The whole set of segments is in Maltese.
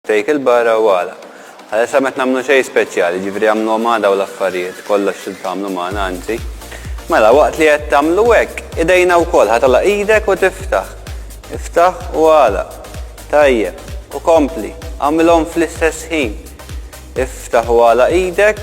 Take il barra u għala. Għalissa m'qed nagħmlu xejn speċjali, jiġifieri għamluhom għada u l-affarijiet, kollox trid tagħmlu magħna anzi. Mela waqt li qed tagħmlu hekk, idejna wkoll ħa tagħlaq idek u tiftaħ. Iftaħ u għalaq. Tajjeb. U kompli. Agħmilhom fl-istess ħin. Iftaħ u għalaq idek.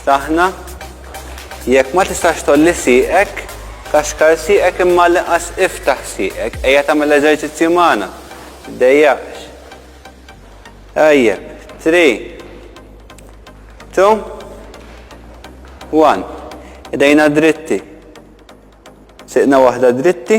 Ftaħna, Jekk ma tistax tgħolli sieqek, kaxkar sieqek imma għall-inqas iftaħ sieqek, ejja tagħmel eżerċizzju magħna, tiddejjaqx. Tajjeb, three, two, one. Idejna dritti. Sieqna waħda dritti,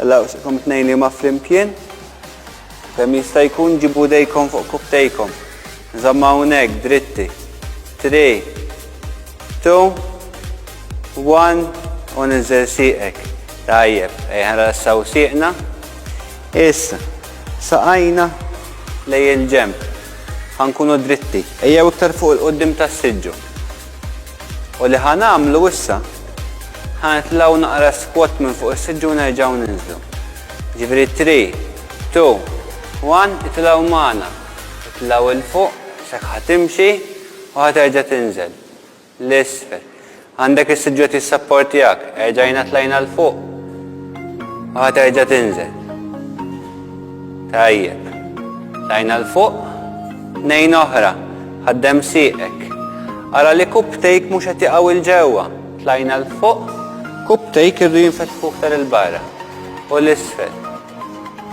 Ella usikom it-tnejn li ma flimkien. Kemm jista' jkun ġibu dejkom fuq kubtejkom. Nżamma hawnhekk dritti. 3 2 1 u ninżel sieqek. Tajjeb, ejja nrassaw sieqna. Issa, saqajna lej il-ġemp. Ħankunu dritti. Ejjew iktar fuq il-qoddim tas-siġġu. U li ħa nagħmlu issa, ħa nitlgħu naqra s-squat minn fuq is-siġġu u nerġgħu ninżlu. Jiġifieri three, two, one, itilgħu magħna. Itlgħu 'il fuq, s'hekk ħa timxi u ħa terġa' tinżel. 'l isfel. Għandek is-siġġu qed jissapportjak, erġajna tlajna 'l fuq u ħa terġa' tinżel. Tajjeb. Tlajna 'l fuq. Tnejn oħra. Ħaddem sieqek. Ara li cuptake mhux qed jaqaw 'il ġewwa. Tlajna 'l fuq. Cuptake irridu jinfetħu iktar 'il barra. U 'l isfel.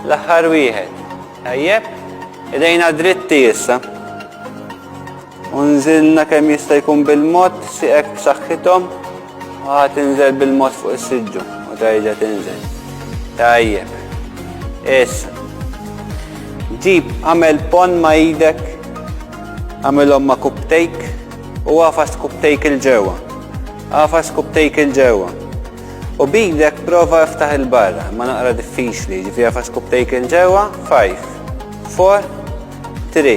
L-aħħar wieħed. Tajjeb. Idejna dritti issa. U nżilna kemm jista' jkun bil-mod sieqek b'saħħithom u ħa tinżel bil-mod fuq is-siġġu u terġa' tinżel. Tajjeb. Issa. Ġib għamel pon ma' idek, għamilhom ma' kubtejk u għafas kubtejk il-ġewwa. Għafas kubtejk il-ġewwa. U bidek prova iftaħ il-barra, ma naqra diffiċli, ġifi għafas kubtejk il-ġewwa, 5, 4, 3.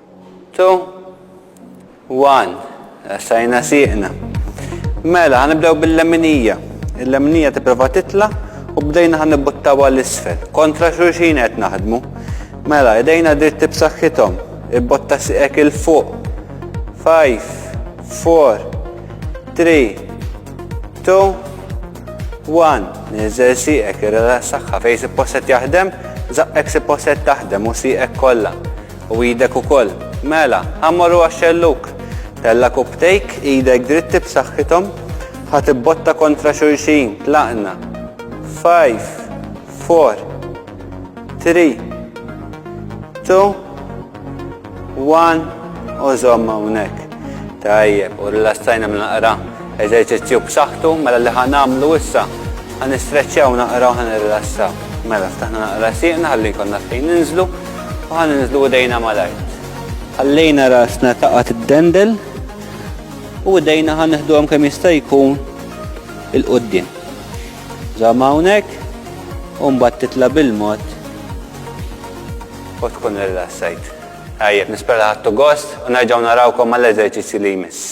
Two, one, essajna sieqna. Mela, ħanibdew bil-leminija. Il-leminija tipprova titla u bdejna ħan nibbuttawa l-isfel. Kontra xulxin qed naħdmu. Mela, idejna dritti b'saħħithom. Ibbotta siqek il-fuq. Five, four, three, two, one. Niżel siqek, irrela saħħa fej si posset jaħdem, zaqqek si posset taħdem u siqek kollha. U idek ukoll. Mela, ħa mmorru għax-xellug! Tella' kupptejk, idek dritti b'saħħithom, ħa tibbotta kontra xulxin, tlaqna. Five, four, three, two, one u żomm hawnhekk. Tajjeb, u rilassajna minn naqra. Eżerċizzju b'saħħtu, mela li ħa nagħmlu issa, ħa nistreċċjaw naqra u ħa nirrilassaw. Mela, ftaħna naqra sieqna ħalli jkollna fejn ninżlu. Ħa ninżlu idejna mal-art. Ħallejna rasna taqa' tiddendel u idejna ħa neħduhom kemm jista' jkun il-qudiem. Żamm hawnhekk u mbagħad titla' bil-mod u tkun rilassajt. Tajjeb, nispera ħadtu gost u nerġgħu narawkom mal-eżerċizzji li jmiss.